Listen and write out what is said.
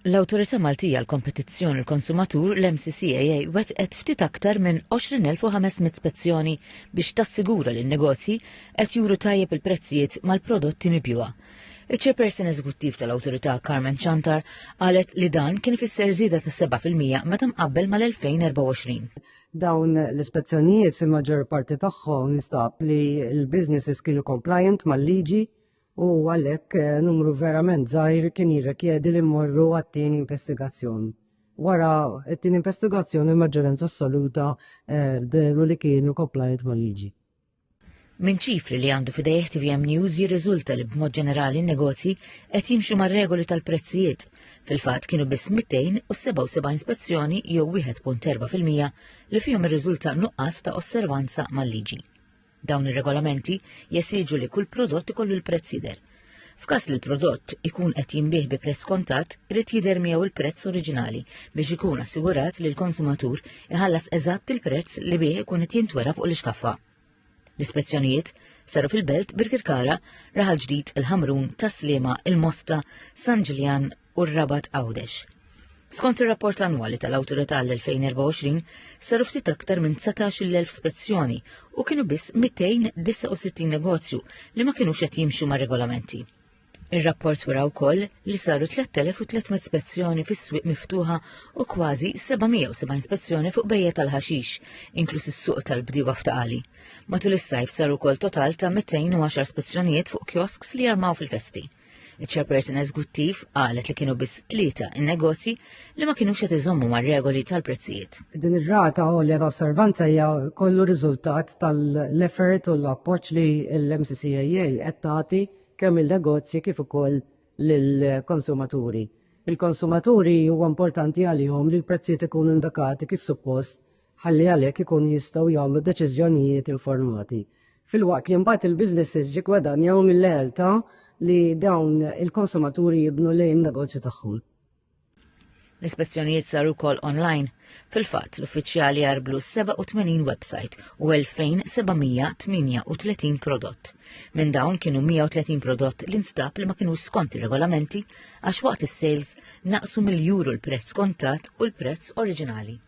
L-Awtorità Maltija għall-Kompetizzjoni u l-Konsumatur, l-MCCAA, wettqet ftit aktar minn 20,500 spezzjoni biex tassigura li n-negozji qed juru tajjeb il-prezzijiet mal-prodotti mibjugħa. Iċ-Chairperson Eżekuttiv tal-Awtorità Carmen Ciantar qalet li dan kien ifisser żieda ta' 7 fil-mija meta mqabbel mal-2024. Dawn l-ispezzjonijiet fil-maġġor parti tagħhom nstab li l-businesses kienu compliant mal-liġi u għalhekk numru verament żgħir kien jirrikjedi li mmorru għat-tieni investigazzjoni. Wara t-tieni investigazzjoni l-maġġoranza assoluta dehru li kienu compliant mal-liġi. Minn ċifri li għandu f'idejh tvm News jirriżulta li b'mod ġenerali n-negozji qed jimxu mar-regoli tal-prezzijiet. Fil-fatt kienu biss 277 spezzjoni jew 1.4 fil-mija li fihom irriżulta nuqqas ta' osservanza mal-liġi. Dawn ir-regolamenti jesiġu li kull prodott ikollu l-prezz jidher. F'każ li l-prodott ikun qed jinbiegħ bi prezz kontatt, irid jidher miegħu l-prezz oriġinali biex ikun assigurat li l-konsumatur iħallas eżatt il-prezz li bih ikun qed jintwera fuq l-ixkaffa. L-ispezzjonijiet saru fil-Belt, Birkirkara, Raħal Ġdid, il-Ħamrun, Tas-Sliema, il-Mosta, San Ġiljan, u r-Rabat Għawdex. Skont ir-rapport annwali tal-Awtorità l-2024, saru ftit aktar minn 19,000 spezzjoni u kienu biss 269 negozju li ma kinux qed jimxu mar-regolamenti. Ir-rapport wara wkoll li saru 3300 spezzjoni fis-swieq miftuħa u kważi 770 spezzjoni fuq bejja tal-ħaxix, inkluż is-suq tal-bdiewa f'taqali. Matul is-sajf saru wkoll total ta' 210 spezzjonijiet fuq kiosks li jarmaw fil-festi. Iċ-Chairperson Eżguttiv qalet li kienu biss tlieta in-negozji li ma kinux qed iżommu mar-regoli tal-prezzijiet. Din ir-rata għolja ta' osservanza hija kollu riżultat tal-effort u l-appoġġ li l-MCCAA qed tagħti kemm lin-negozji kif ukoll lill-konsumaturi. Il-konsumaturi huwa importanti għalihom li l-prezzijiet ikunu indikati kif suppost ħalli għalhekk ikunu jistgħu jagħmlu deċiżjonijiet informati. Filwaqt li mbagħad il-businesses jiggwadanjaw mill-lealtà li dawn il-konsumaturi jibnu lejn negozju tagħhom. L-ispezzjonijiet saru kol online. Fil-fat, l-uffiċjali jarblu 87 website u 2738 prodott. Minn dawn kienu 130 prodott li nstab li ma kienu skont regolamenti għax waqt is-sales naqsu mill-juru l-prezz kontat u l-prezz oriġinali.